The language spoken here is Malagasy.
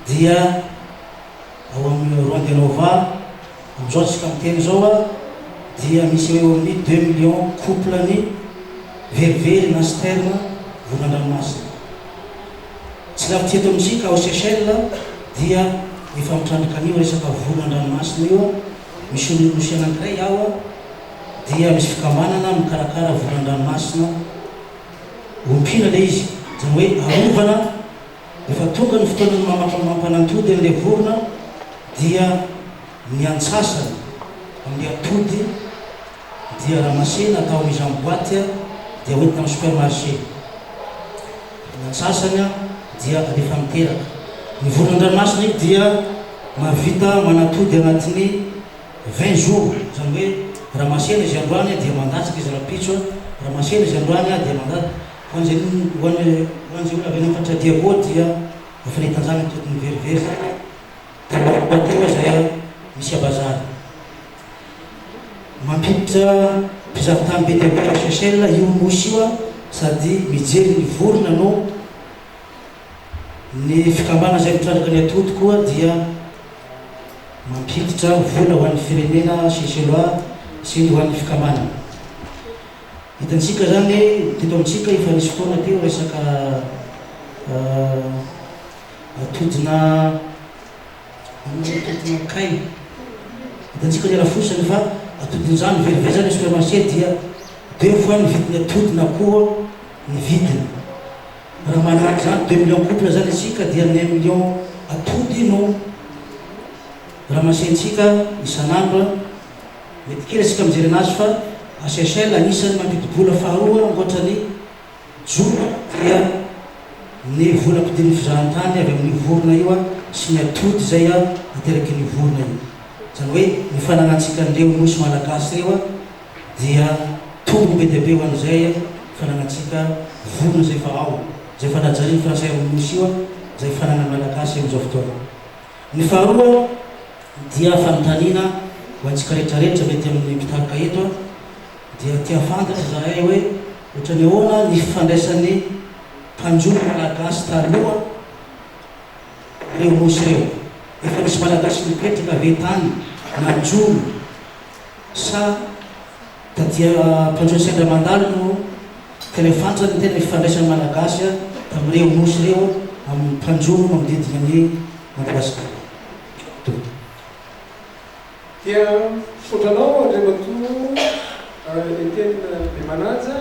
dia ao amin'ny Rond de Nova amin'izao isika miteny izao dia misy eo amin'ny deux millions couple ny verivery na sperme voa an-dranomasina. Tsy lavitra eto amintsika ao Seychelles dia efa mitrandrika an'io resaka voa an-dranomasina io. Misy olo Rosia anankiray ao dia misy fikambanana mikarakara voa an-dranomasina Ompiana ilay izy, izany hoe arovana, rehefa tonga ny fotoanan'ny mamatra ny mampanantody an'ilay vorona dia ny antsasany amin'ilay atody dia ramasena atao amin'izany boite dia hoentina amin'ny supermarché, ny antsasany dia alefa miteraka. Ny vorona an-dranomasina dia mahavita manatody anatin'ny. Vingt jours, izany hoe raha masera izy androany dia mandatsaka izy rahampitso, raha masera izy androany dia mandat. Ho an'izay ho an'izay ho an'izay olona avy any amin'ny faritra Diago dia efa nitanjana ny tody niverivery izany telo andro tao teo izay misy abazary mampiditra mpizahatany be dia be ao Seychelles io nosy io sady mijery ny vorona no Ny fikambanana izay mitrandraka ny atody koa dia mampiditra vola ho an'ny firenena Ceceloa sy ny ho an'ny fikambanana. Hitantsika izany teto amintsika efa nisy fotoana teo resaka atodina atodina kay. Hitantsika ny arafosany fa atodin'izany very very izany ny supermarché dia deux fois ny vidin'ny atody na koa ny vidiny. Raha manahaka izany deux millions couple izany isika dia ny un million atody no ramasentsika isan'andro an! Mety kely isika mijery anazy fa à Seychelles anisan'ny mampidi-bola faharoa ankoatra ny jono dia ny vola ampidirin'ny fizahantany avy amin'io vorona io an! sy ny atody izay an! aterakin'io vorona io. Izany hoe ny fananantsika an'ireo nosy malagasy ireo an! dia tombony be dia be ho an'izay fananantsika vorona izay efa ao, izay efa najarin'ny frantsay amin'ny Nosy io, izay fananan'ny Malagasy amin'izao fotoana. Ny faharoa dia fanontaniana ho antsika rehetra rehetra mety amin'ny mpitarika eto dia te hahafantatra izahay hoe ohatran'ny ahoana ny fifandraisan'ny mpanjono Malagasy taloha ireo Nosy ireo? Efa misy Malagasy mipetraka ve tany nanjono? sa da dia mpiantso ny sendra mandalo no ka le fantany ny tena ifandraisan'ny Malagasy tamin'ireo Nosy ireo amin'ny mpanjono manodidina an'i Madagasikara. Donto. Dia misaotra anao Andriamatoa Etienne Bemanaja.